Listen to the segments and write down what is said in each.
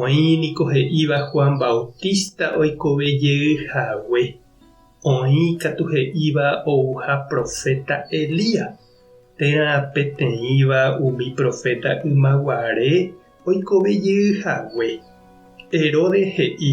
Oĩ niko he'íva Juan Bautista oikove jey hague, oĩ katu he'íva ouha proféta Elías, térã peteĩva umi proféta ymaguare oikove jey hague. Herodes he'i,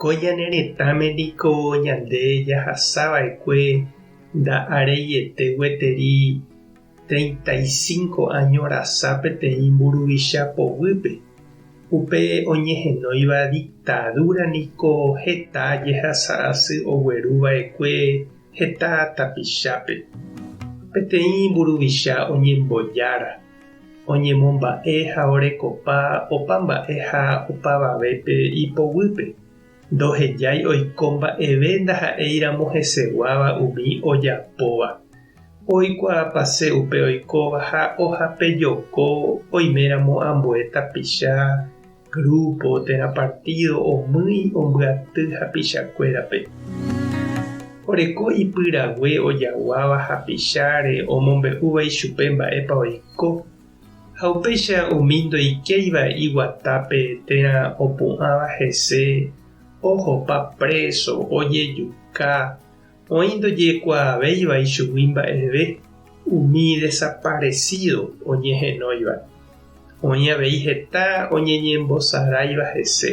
Ko ñane retãme niko ñande jahasa va'ekue nda'areiete gueteri treinta y cinco áño rasa peteĩ mburuvicha poguýpe. Upe oñehenóiva diktadúra niko heta jehasa asy ogueru va'ekue heta tapichápe. Peteĩ mburuvicha oñembojára. oñemomba'e ha orekopa opa mba'e ha opavavépe ipoguýpe, ndohejái oiko mba'eve ndaha'éiramo heseguáva umi ojapóva, oikuaapase upe oikóva ha ohapejoko oiméramo ambue tapicha, Grúpo térã partído omýi ombyaty hapichakuérape. Oreko ipyrague ojaguáva hapicháre omombe'úva ichupe mba'épa oiko, ha upéicha umi ndoikéiva iguatápe térã opu'ãva hese ohopa préso, ojejuka, Oĩ ndojekuaavéiva ichugui mba'eve umi desaparesído oñehenóiva. Oĩ avei heta oñeñembosaráiva hese,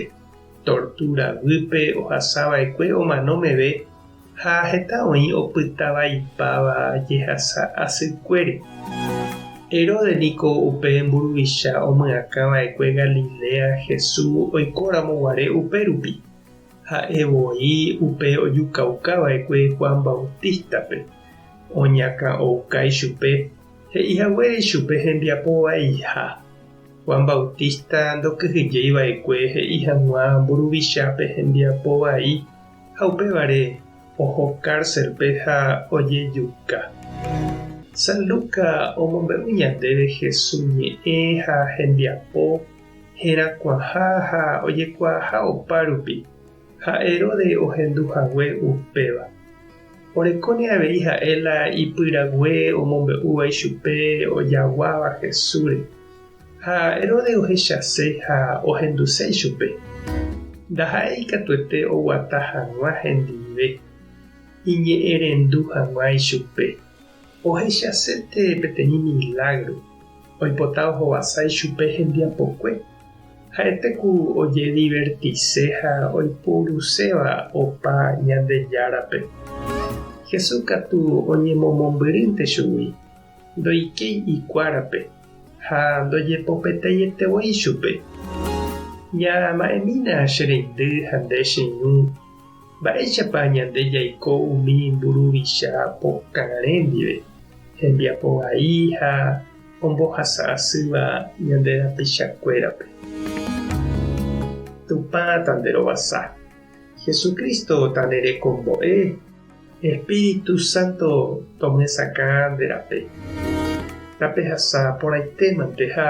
tortúra guýpe ohasava'ekue omano meve ha heta oĩ opytavaipáva jehasa asykuére. Herodes niko upe mburuvicha omyakãva'ekue Galilea Jesús oikóramo guare upérupi. Ha'e voi upe ojukaukã va'ekue Juan Bautístape, oñakã ouka ichupe, he'i haguére ichupe hembiapo vaiha. Juan Bautista ndokyhyjéi va'ekue he'i hag̃ua mburuvichápe hembiapo vai, ha upévare oho kárselpe ha ojejuka. San Luca omombe'u ñandéve Jesús ñe'ẽ ha hembiapo. herakuãha ha ojekuaaha opárupi, ha Heróde ohendu hague upéva. Orekóne avei ha'e la ipyrague omombe'úva ichupe ojaguáva Jesúsre. Ha Heróde ohechase ha ohenduse ichupe. Ndaha'éi ikatuete oguata hag̃ua hendive, iñe'ẽrendu hag̃ua ichupe. Ohechasete peteĩ milágro oipota ohovasa ichupe hembiapokue. Ha'ete ku ojedivertise ha oipuruséva opa Ñandejárape. Jesús katu oñemomombyrýnte chugui, ndoikéi ikuárape ha ndojepopetaite voi chupe. Ñama'ẽmína che reindy ha nde che ñu. Mba'éichapa ñande jaiko umi mburuvicha pokãre ndive, hembiapo vai ha ombohasa asýva ñande rapichakuérape? Tupã tanderovasa. Jesucristo tanerekombo'e. Espíritu Santo tomyesakã nde rape. Tapehasa porãitémante ha